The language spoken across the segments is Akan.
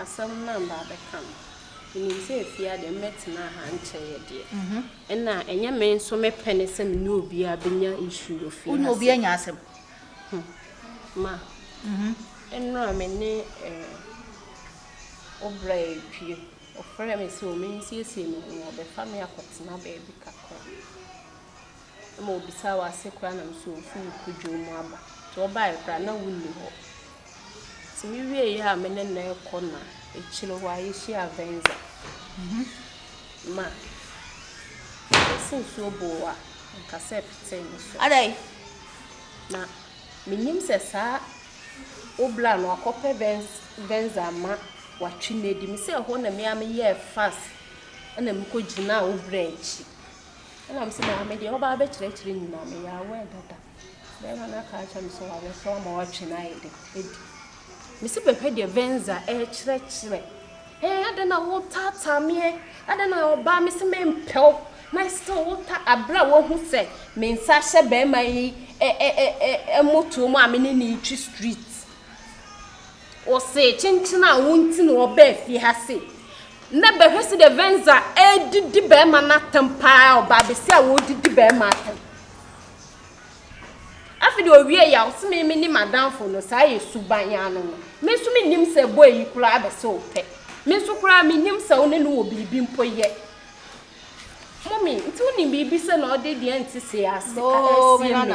Asɛm no a mabɛka no, menim sɛ ɛfie ha deɛ mɛtena ha nkyɛ yɛ deɛ. Mm -hmm. Ɛna ɛnyɛ me nso mepɛ ne sɛ me ne obiara bɛnya issue wɔ fie ha. Wone obiara nya asɛm. Hmm. Ma. Mm -hmm. Ɛnora me ne eh, obra ɛpie. Ɔfrɛ me sɛ ɔmensiesie me ho, ɔbɛfa me akɔtena baabi kakra. ma wɔbisaa w'ase koraa na nso wofi wo kwadwom mu aba. Nti wɔbaeɛ koraa na wonni hɔ. Nti me wieeɛ a me ne no rekɔ no a, akyire hɔ ara yɛhyiaa Venza. Ma ɔse nsuo boo a, anka sɛ petee ne so. Adɛn? Na mennim sɛ saa Obla no wakɔpɛ Venza ama watwe no adi. Mesɛ ɛhɔ na me ara meyɛɛ fast na mekɔgyinaa Obla akyi. Ɛna me se maame deɛ ɔbaa bɛkyerɛkyerɛ nyinaa me yɛ aware dada bɛɛma no aka akyerɛ me sɛ wayɛ so ama watwe no ayɛ dɛ adi me se bɛhwɛ deɛ venza ɛkyerɛkyerɛ ɛɛ adɛn na wotaataa meɛ adɛn na ɔbaa me se mempɛw na ɛsɛ wota abere a wahu sɛ me nsa ahyɛ bɛɛma yi ɛmotoɔ mu a me ne ne retwi street Ɔsee kyenkyen a wonti na ɔbaa fie ha sei. Nɛ bɛhwɛ sɛdeɛ Venza ɛɛdidi bɛɛma no atɛm paa ɔbaa bɛsi a wɔɔdidi bɛɛma atɛm. Afi deɛ ɔwie yɛ a ɔse me me nim adanfo no saa yɛ suban yɛ ano no. Me nso me nim sɛ boy yi koraa abɛ sɛ ɔpɛ. Me nso koraa me nim sɛ ɔne no wɔ biribi mpo yɛ. Mommy, nti wonim biribi sɛ na ɔde deɛ nte se ase ɛɛsie me?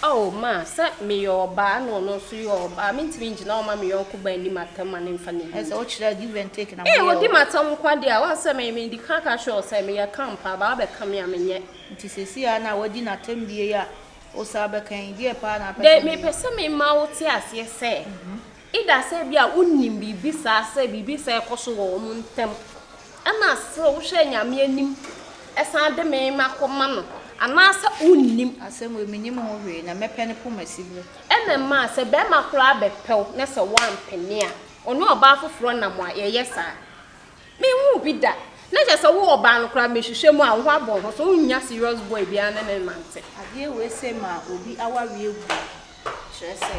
Oh, ma, sɛ meyɛ ɔbaa na ɔno nso yɛ ɔbaa, mentumi ngyina hɔ mma me yɔnko baa nni m'atɛm ma no mfa ne Ɛyɛ sɛ yie. wokyerɛ give and take na Ee, moyɛ ɔdi o. m'atɛm nko ara deɛ a, woahu sɛ me, medi kan ka kyerɛɛ wo sɛ meyɛ camp a, baa wabɛka me a, menyɛ. Nti seesei a na woadi n'atɛm bie yi a, wosan bɛka yi, deɛ paa na wopɛ Dɛ, sɛ meyɛ? mepɛ sɛ mema wote aseɛ sɛ, Either sɛ ebia wonim biribi saa sɛ biribi saa ɛkɔ so wɔ wɔn ntam ɛna sɛ wohwɛ Nyame anim ɛsan de me ma kɔ ma no anaasɛ wonnim. Asɛm wei menim ho hwee na mɛpɛ no poma siberɛ. Ɛna ɛmaa sɛ bɛɛma koraa bɛpɛ wo na sɛ woampene a ɔne ɔbaa foforɔ nam a yɛyɛ saa. Menhuu bi da. Na kyerɛ sɛ wo ɔbaa no koraa mehwehwɛ mu a wo ho abɔ wo ho so wonnya serious boy biara ne no nnante. Adeɛ wei sɛ ma obi awareɛ guo kyerɛ sɛ.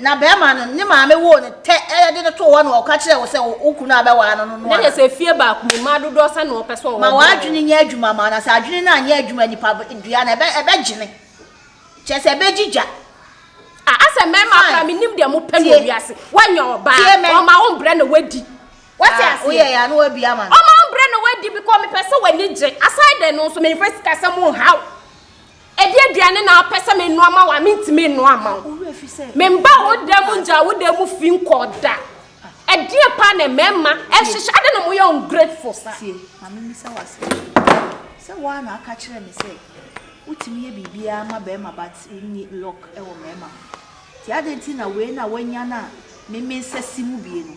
Na bɛrima no, ne maame woo no tɛ de no too hɔ na ɔka kyerɛɛ wo sɛ wo kunu a bɛwaa no no noa. Na sɛ fie baako mu mmaa dodoɔ sɛ na ɔpɛ sɛ ɔwɔ. Ma w'adwene nyɛ adwuma ma wo, na sɛ adwene no anyɛ adwuma nipa dua no ɛbɛgyene. Kyerɛ sɛ ɛbɛgyi gya. A asɛ mmarima akora menim deɛ mopɛ no wiase. Woanya ɔbaa, ɔma wo mbrɛ na wadi. Wate ah, aseɛ? Woyɛ ya no wabi ama no. Ɔma wo mbrɛ na wadi because mepɛ sɛ w'ani gye. Aside no nso memfa sikasɛm nhaw. Ɛdeɛ aduane na wopɛ sɛ menoa ma wo a mentumi nnoa ma wo? Memba wo dan mu ngyaa wo dan mu fi nkɔɔ da. Ɛdeɛ paa na mmarima hyehyɛ adɛn na moyɛ ungrateful saa? Tie, ma memmisa wo asɛm bi. Sɛ wo ara na woaka kyerɛ me sɛ wotumi yɛ biribiara ma barima but wonni luck wɔ mmarima ho nti, adɛn nti na wei na woanya no a me mensɛ si mu bie no?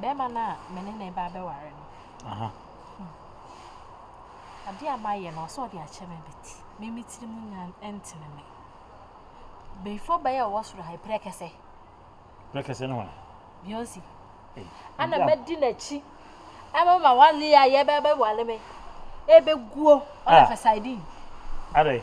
Bɛɛma no a me ne no reba abɛware no, adeɛ a mayɛ no, ɔsɛ ɔde akyɛ me but me me tiri mu nya ntene me. Before bɛyɛ ɔwɔ soro ha, ɛprɛ kɛsɛ. Prɛ kɛsɛ no hɔ? Beyonce. Eh, Ana mɛdi n'akyi. Ɛma ma wale a yɛbɛbɛwale me. Ɛbɛguo, ɔna fɛ sardine. Adɛn?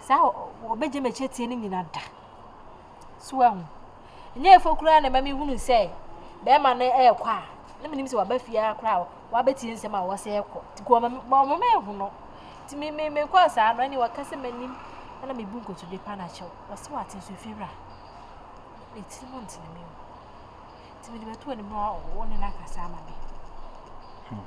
Saa a wɔbɛgye m'akyi atie no nyina da. So woahu? Ɛnyɛ ɛfɔ koraa na ɛma mehunu sɛ bɛrima no ɛrekɔ a, na menim sɛ waba fie ara koraa wabɛtie nsɛm a wɔsɛ ɛrekɔ. Nti kɔ ɔma mehu no. Nti me me mekɔɔ saa no, ɛne wɔka sɛ m'anim na mebu nkotodwe pa no akyɛ wo. Wɔse wate nso fie wura. Ne tiri mu ntene me mu. Nti mede bɛto anim na wo ne no akasa ama me. Hmm.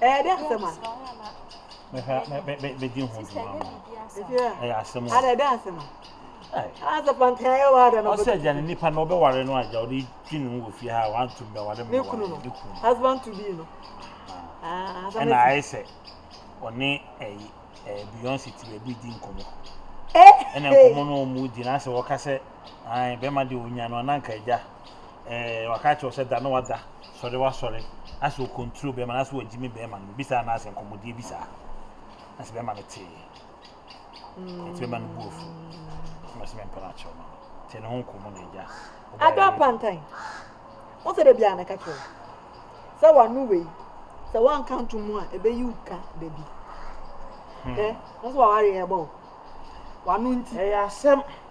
ɛyɛ dɛ asɛm a. mehwɛ mɛ mɛ mɛ bɛdi ho dwuma ma ɛyɛ asɛm o. ada dɛ asɛm a. Asa pankan yɛ wada na ɔsɛ gya ne nipa na ɔbɛware no agya ɔde twi ne ho wɔ fie ha wantom bɛware ne kunu no husband to be no ɛna ayɛ sɛ ɔne ɛyi ɛɛ beyonce ti baabi di nkɔmɔ ɛna nkɔmɔ no ɔmo di na asɛ wɔka sɛ ayi bɛrima de onya no ananka agya. Ɔaka akyerɛ wo sɛ da na wada, sɔre wasɔre, anaasɛ ɔcontrol bɛɛma no, anaasɛ wagyimi bɛɛma no, obisaa no asɛ nkɔmmɔdie bi saa. Anaasɛ bɛɛma no tee. Ɛti bɛɛma no bu afu. Ɛma sɛ mempɛ no akyerɛ ma no. Tee ne ho nkɔmmɔ na agya. Adɔ apantan. Wo sɛ da biara na ɛka kyerɛ wo sɛ wano wei sɛ woanka nto mu a ɛbɛyi wo ka da bi. Hwɛ, na sɛ waware ɛbɔ wo. Wano nti. Ɛyɛ asɛm.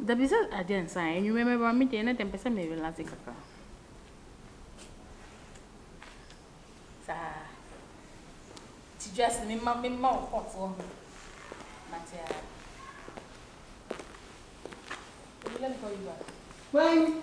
Dabi sɛ adeɛ nsa a anwummerɛ mɛba me deɛ na deɛ mpɛ sɛ me relaxe kakra saa ti just me ma me ma wo hot wɔ ho mate a let me call you back when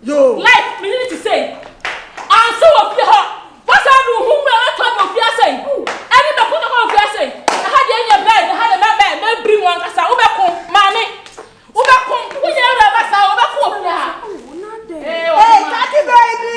Yoo. Like me yere te sei ɔnse wɔ fie hɔ fa saa adu ho wura na tɔn wɔ fie ha sei ɛne mɛko ne hɔ wɔ fie ha sei ɛha deɛ nyɛ bɛn ɛha deɛ mɛ mɛ mɛ biri mu ankasa wo bɛko maame wo bɛko wo nyɛ wura ba saa wo bɛko wɔ fie ha ee ɔmo ma. Hey, Tati baby.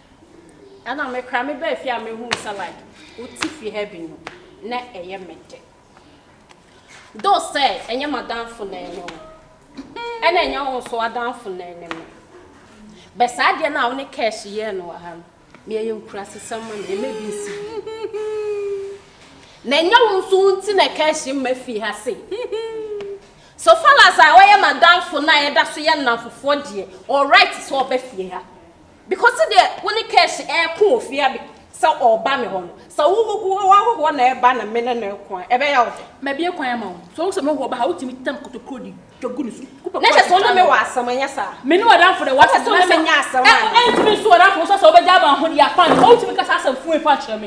Ɛna me kra me baa fie a me hu sɛ like wo ti fie ha bi no na ɛyɛ me de. Do sɛ ɛnyɛ m'adanfo na ɛne wo. Ɛna ɛnyɛ wo nso adanfo na ɛne me. Bɛ saa adeɛ no a wo ne cash yɛɛ no wɔ ha no, me ɛyɛ nkurasesɛm ma me, ɛmɛ bi nsi bi. Na ɛnyɛ wo nso wo nti na cash mma fie ha se. So far as a wɔyɛ m'adanfo na ɛda so yɛ nnamfofoɔ deɛ, ɔwɔ right sɛ ɔba fie ha. Because deɛ wo ne cash ɛko wɔ fie abi sɛ ɔba me hɔ no sɛ wo wo wahohoɔ na ɛba na me ne no ɛko a ɛbɛyɛ wo dɛ. Mabie kwan ama wo sɛ wohu sɛ mehohoɔ ba ha wotumi tam kotokuro de twa gu ne so wopɛ Na kɔ kyɛ sɛ wo ne me wɔ asɛm ɛnyɛ saa? Me ne w'adamfo dɛ w'asɛm Wopɛ sɛ wo ne me nyɛ asɛm anaa? Ɛntumi nsi w'adamfo wo sɛ sɛ wobɛgya ama ahodeɛ akwan sɛ wotumi kasa asɛm fue fa kyerɛ me.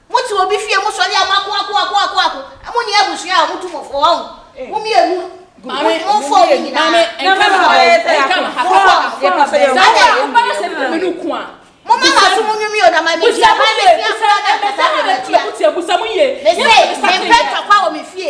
Mote obi fie mo sɔre a mo ako ako ako ako ako mo ni abusua a ɔmo tu mo fo ɔho mo mmienu mo fo ɔmo nyinaa mo ma ma so mo nwumi o na ma mi tia ma mi tia fura na kasa mi tia me se me mpɛ ntɔkwa wɔ me fie.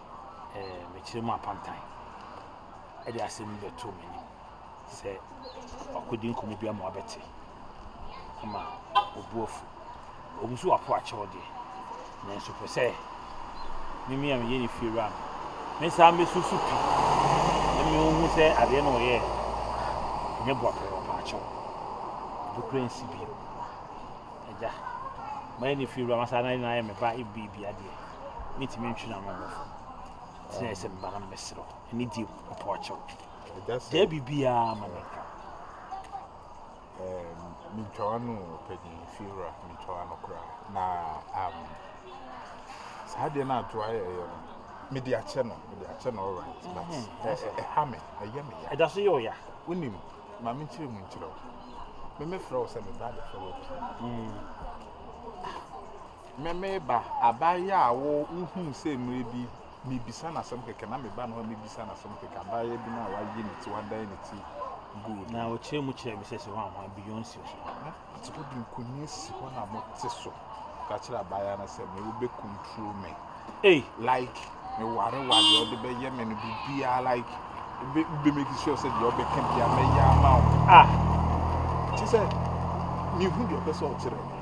mekyerɛ mu apantan de asɛm bi bɛto mo anim sɛ wakɔdi nkɔmmɔ bi ama wabɛte ama obu afu ɔmu so wapo akyɛw deɛ nanso pɛ sɛ mimi a meyɛ ne fie wura no mesan bɛsusu pi na mehu sɛ adeɛ no ɔyɛ ɛnyɛ boapɛ ɔpa akyɛw ɛbɛkura nsi bio agya mayɛ ne fie wura masa na ayɛ me ba ebi bi adeɛ mɛtumi atwi no ama nkurɔfoɔ sɛ ɛsɛ meba na mɛserɛ wo ɛne die ɔpɔ akyɛw gyaa biribiaa ma no mentwawa no pɛgye fiewura mentwawa no koraa na um, saa deɛ no ato ayɛ ɛyɛ no mede akyɛ no mede akyɛ no alright but mm-hmm. ɛha me ɛyɛ me ya ɛda so yɛ ɔya wonim ma menkyerɛ mu nkyerɛ wo memɛfrɛ wo sɛ meba de frɛ wo pii mm. Me me ba, abaayewa a wo wohuu sɛ mmerɛ bi mebisa no asɛm kɛkɛ na meba ne hɔ mebisa no asɛm kɛkɛ, abaayewa bi no a wayi ne ti, wadan ne ti guu no. Na ɔkyerɛ mu kyerɛ me sɛ sɛ wɔn a Beyonce so. Nti wode nkonnwa si hɔ na mote so ka kyerɛ abaayewa no sɛ me wobɛkontro me. Ei like me ware wa deɛ ɔde bɛyɛ me no biribiara like be be make sure sɛ deɛ ɔbɛka biara mɛyɛ ama wo ah te sɛ mehu deɛ ɔpɛ sɛ ɔkyerɛ me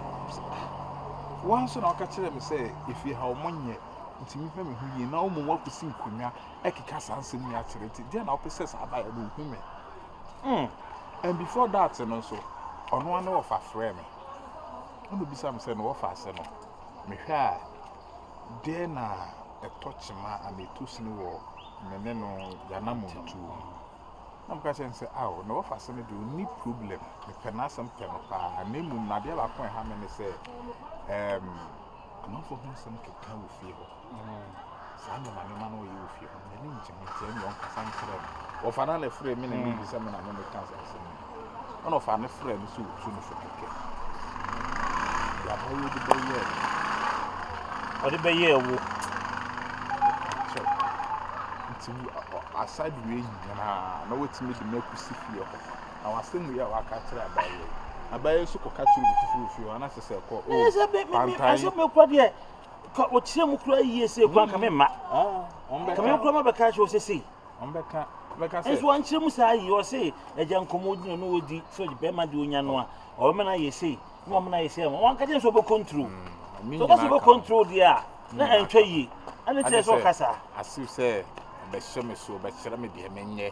wɔn nso na ɔka kyerɛ me sɛ efie ha wɔn nyɛ nti mi hwɛ me ho yie na wɔn mu wakɔsi nkonnwa ɛkeka saa nsɛm yi akyerɛ ti deɛ na ɔpɛ sɛ saa abayɛ no ohu me mm and before that no nso ɔno ano ɔfa frɛ me ɔno bisa me sɛ na ɔfa ase no mehwɛ a. Dɛn na ɛtɔ kyema anaa etu sini wɔ me ne no yanammɔntuo mu? Na meka kyerɛ no sɛ, Ao, ne wɔfase no deɛ ɔnni problem, mepɛ n'asɛm pɛ no paa, na mmom no adeɛ baako a ɛha me ne sɛ, ɛɛm, amanfoɔ ho nsɛm keka wɔ fie hɔ, saa nneɛma nneɛma no ɔyɛ wɔ fie hɔ. M'ani nngye ho sɛ nea ɔnkasa nkyerɛ no. Wɔfa no a na ɛfrɛ me na ɛne bisa me na me meka asase no ho. Ɛna ɔfa no frɛ no sɛ ɔtu no fo kɛkɛ. Deɛ abayɛ ɔde bɛyɛɛ no. Ɔde bɛyɛɛ wo. Kyɛw. Nti aside wei nyinaa na watumi de me akɔsi fie hɔ. Na wasɛm wei a waka kyerɛ abayɛ. Abayɛ nso kɔka kyerɛ obi foforɔ fie hɔ anaasɛ sɛ ɛkɔ o pantan. Ɛsɛ mekɔ deɛ. Ka ɔkyerɛ mu koraa yie sɛ kura nka me mma ka me kura ma bɛka kyerɛ sɛ sei nso wankyerɛ mu saa yie ɔse agya nkɔmmɔ ɔdi no no ɔdi sɛ bɛrima de ɔnya no a ɔbɛma no ayɛ sei na ɔma no ayɛ sei wanka kyerɛ sɛ ɔbɛkɔntro sɛ ɔka sɛ ɔbɛkɔntro deɛ a na ɛntwa yie ɛne kyerɛ sɛ ɔka saa asew sɛ bɛhyɛ me so bɛkyerɛ me deɛ menyɛ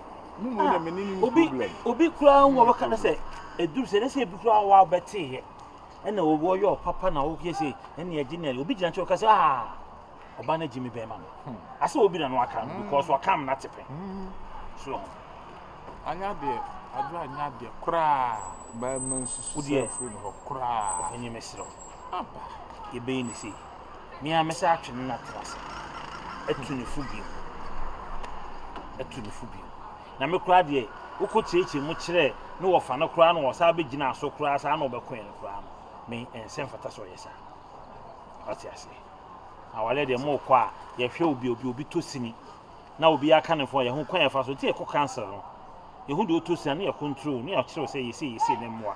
Ah, obi obi koraa hu ɔbɛka no sɛ ɛduru sɛ ne sɛ ebi koraa wɔ a wobɛteeɛ ɛna wɔyɛ ɔpapa na woyɛ sɛ ɛne ɛgye ne obi gyina kyɛ ɔka sɛ ah ɔba no agye me bɛrima no hmm. asɛ obi na no aka no because hmm. ɔkam no ate pɛ hmm. so anyɛ adeɛ adwo anyɛ adeɛ koraa bɛrima nsusu sɛ afiri no hɔ koraa ɛnyɛ mesrɛ aba yɛbɛyi ne sei Me ara mɛsan atwe no na atena ase. Atu ne fo bio. Atu ne fo bio. Na me koraa deɛ, wokɔkyeakyea mu kyerɛɛ ne wɔfa no koraa na ɔsan bɛgyinaa so koraa saa na ɔbɛkoeɛ no koraa no, me ɛnsɛ mfata sɛ ɔyɛ saa. Wate aseɛ? Awareɛ deɛ morekɔ a, yɛhwɛ obi obi obi tɔ sini na obi aka ne fo yɛho kwan yɛfa so nti yɛkɔ council no yɛhu deɛ ɔtɔ sini na yɛcontrol na yɛkyerɛw sɛ yɛsei yɛsei ne mmoa.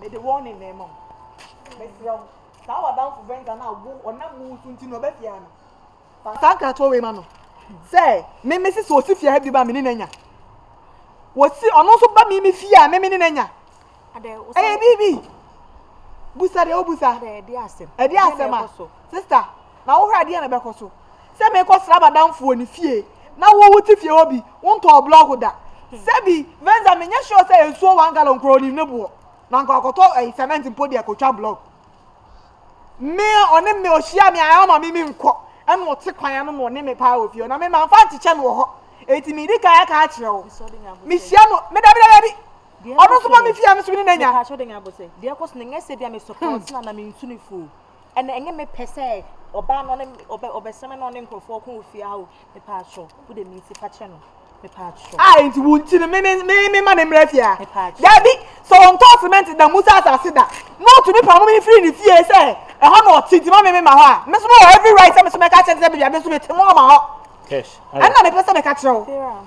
Mede wɔn nenam ma wo. Mesrɛ wo, saa w'adamfo Venza no a wo ɔnam wo so nti na ɔba fie ha no, fa saa nkratoɔ wei ma no sɛ me mese sɛ ɔsi fie ha bio a me ne no anya. Wɔsi ɔno nso ba me me fie a me me ne no anya. Ɛyɛ biribi. Busa deɛ wobusa. Ɛde asɛm a. Sista, Na wo hɔ a deɛn na ɛbɛkɔ so? Sɛ mekɔ sra madamfo wɔ ne fie na wo wo te fie hɔ bi wo ntɔɔ blɔk da sɛbi Venza me nyɛ sure sɛ nsuo one gallon koraa onim ne boɔ na anka wakɔtɔ ɛyi cement mpo deɛ kɔtwa blɔk me ɔne me ohyia me a ɔma me me nkɔ ɛna ɔte kwan ano na ɔne me paa wɔ fie hɔ na me ma nfa nkyekyɛ no wɔ hɔ eti me di kan aka akyerɛ wo me hyia no me dabi dabi dabi ɔno nso ma me fie a me so me ne na nya. Ɛna ɛnyɛ me pɛ sɛ ɔbaa no ne ɔbɛ ɔbɛsɛm na ɔne nkurɔfoɔ ɔko wɔ fie ha o mepaakyɛw wo de minti fa kyɛ no mepaakyɛw. a nti wo nti no me me me me ma ne mmerɛ fie ha mepaakyɛw daabi sɛ ɔntɔ cement da musa asase da na ɔtumi pa mo me firi ne fie sɛ ɛhɔ na ɔte nti ma me me ma hɔ a me so me wɔ every right sɛ me so mɛka kyerɛ sɛ baabi a me so mete mo ma hɔ ɛna mepɛ sɛ meka kyerɛ wo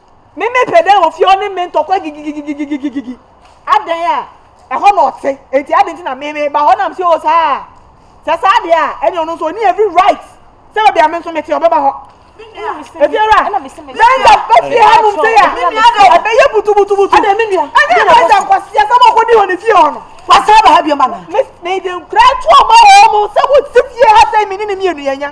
Me me pɛ dɛn wɔ fie ɔne me ntɔkwa gigigigigigigigigi adɛn a ɛhɔ na ɔte enti adɛn nti na me me ba hɔ na msi o saa sɛ saa deɛ a ɛne ɔno nso ɔni every right sɛ baabi a me nso mete ɔbɛba hɔ efiewura yɛn yɛ ba fie ha nom sɛ yɛ ɛbɛyɛ butubutubutu ɛne ɛbɛyɛ sɛ nkwaseɛ sɛ mɔkɔ di hɔ ne fie hɔ no wasaa ba ha bioma na mede nkura to ɔma wɔ mo sɛ wote fie ha sɛ me ne ne mmienu yɛnya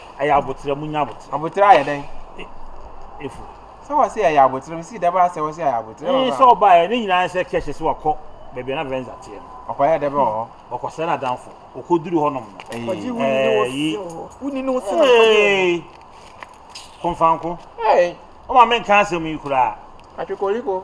Ɛyɛ aboterɛ mu nya aboterɛ. Aboterɛ ayɛ dɛn? Efu. Sɛ wɔsi ɛyɛ aboterɛ mu si dɛbɛ asɛ wɔsi ɛyɛ aboterɛ. Ee sɛ ɔbaa yɛ ne nyinaa sɛ kɛhyɛ sɛ wakɔ baabi a na Venza teɛ no. Ɔkɔ yɛ dɛbɛ wɔ hɔ. Ɔkɔ sɛ n'adanfo ɔkɔ duru hɔ nom no. Ee kɔgye wuni ne wo si wɔ hɔ. Wuni ne wo si na kɔgye wɔ hɔ. Ee konfanko. Ee. Ɔma menka asɛm yi koraa. Atwikoliko.